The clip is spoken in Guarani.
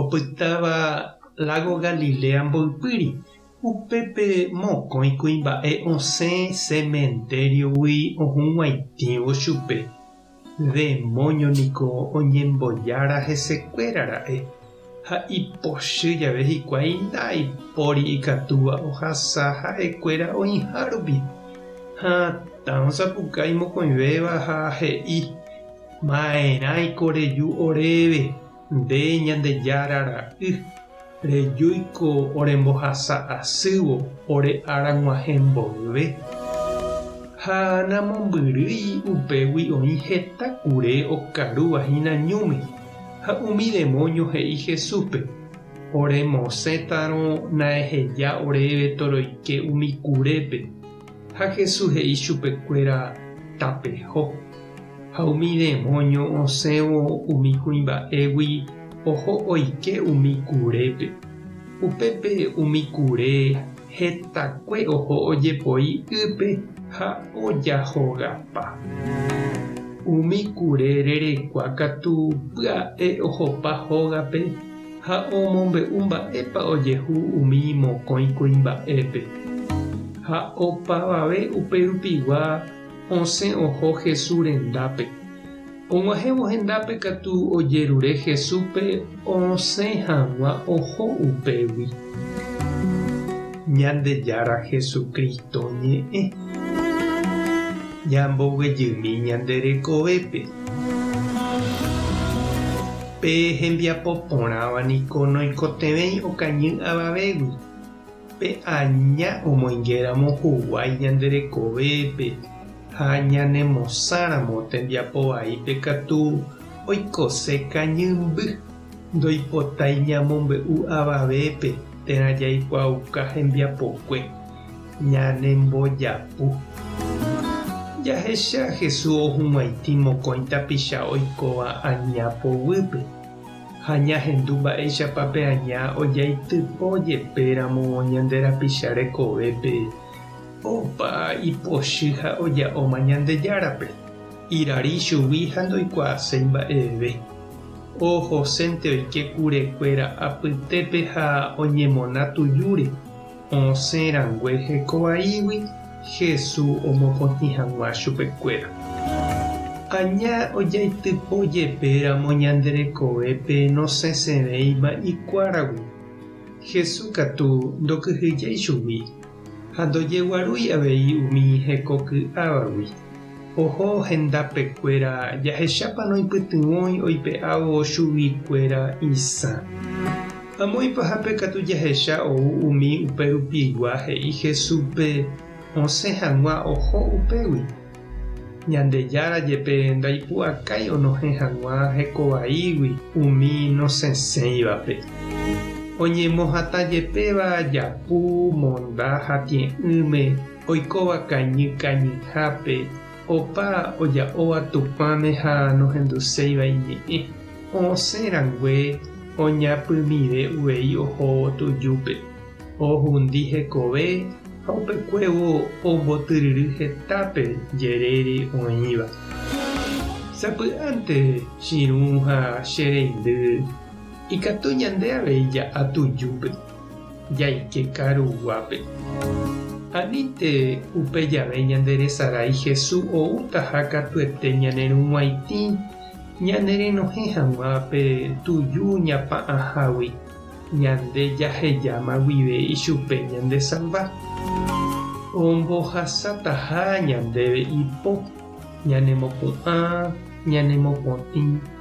Opytáva lágo Galilea mboypýri. Upépe mokõi kuimba'e osẽ sementériogui ohug̃uaitĩvo chupe. Demóño niko oñembojára hesekuéra ra'e, ha ipochy jave hikuái ndaipóri ikatúva ohasa ha'ekuéra oĩha rupi. Ha tã osapukái mokõivéva ha he'i, Maerãiko reju oréve. Nde Ñandejára ra'y, rejúi ko orembohasa asývo ore ára g̃uahẽ mboyve. Ha namombyrýi upégui oĩ heta kure okarúva hína ñúme. Ha umi demóño he'i Jesúspe, Oremosẽtarõ naeheja oréve toroike umi kurépe. Ha Jesús he'i chupekuéra, Tapeho. Ha umi demónio osẽvo umi kuimba'égui oho oike umi kurépe. Upépe umi kure hetakue oho ojepoi ýpe ha ojahogapa. Umi kure rerekua katu pya'e ohopa hógape Ha omombe'u mba'épa ojehu umi mokõi kuimba'épe. Ha opavave upe rupigua osẽ oho Jesús rendápe. Og̃uahẽvo hendápe katu ojerure Jesúspe osẽ hag̃ua oho upégui. Ñandejára Jesucristo ñe'ẽ. Ñamboguejymi ñande rekovépe. Pe hembiapo porãva niko noikotevẽi okañy avavégui. Pe aña omoingéramo huguái ñande rekovépe ha ñanemosãramo tembiapo vaípe katu oikose kañymby, ndoipotái ñamombe'u avavépe térã jaikuaauka hembiapokue. ñanembojapu. Jahecha Jesús ohuguãitĩ mokõi tapicha oikóva aña poguýpe, ha ñahendu mba'éichapa pe aña ojaitypo jepéramo ñande rapicha rekovépe opa ipochy ha oja'óma Ñandejárape. Irari ichugui ha ndoikuaaséi mba'eve. Ohosénte oike kurekuéra apytépe ha oñemona tujúre. Osẽ rangue heko vaígui, Hesu omokotĩ hag̃ua chupe kuéra. Aña ojaitypo jepe ramo ñande rekovépe nosẽsevéima ikuáragui, Hesu katu ndokyhyjéi chugui ha ndojeguarúi avei umi heko ky'ávagui. Oho hendápe kuéra, jahechápa noipytyvõi oipe'ávo chugui kuéra isã. Amo ipahápe katu jahecha ou umi upe rupigua he'i Jesús pe osẽ hag̃ua oho upégui. Ñandejára jepe ndaipu'akái onohẽ hag̃ua hekovaígui umi nosẽsẽivape. Oñemohatã jepéva japu, monda ha tie'ỹme, Oikóva kañy kañyhápe, opa oja'óva Tupãme ha nohenduséiva iñe'ẽ, oosẽ rangue oñapymive uvei ohóvo tujúpe, ohundi hekove ha upekuévo ombotyryry hetápe jerére oĩva. Sapy'ánte chirũ ha che reindy ikatu ñande avei ja'a tujúpe. jaike karu guápe. Anínte upe jave ñande resarái Hesu oútaha katuete ñanerug̃uaitĩ ñanerenohẽ hag̃ua pe tuju ñapa'ãhágui, ñande jahejáma guive ichupe ñandesalva. Ombohasataha ñandéve ipo ñanemopu'ã, ñanemo potĩ,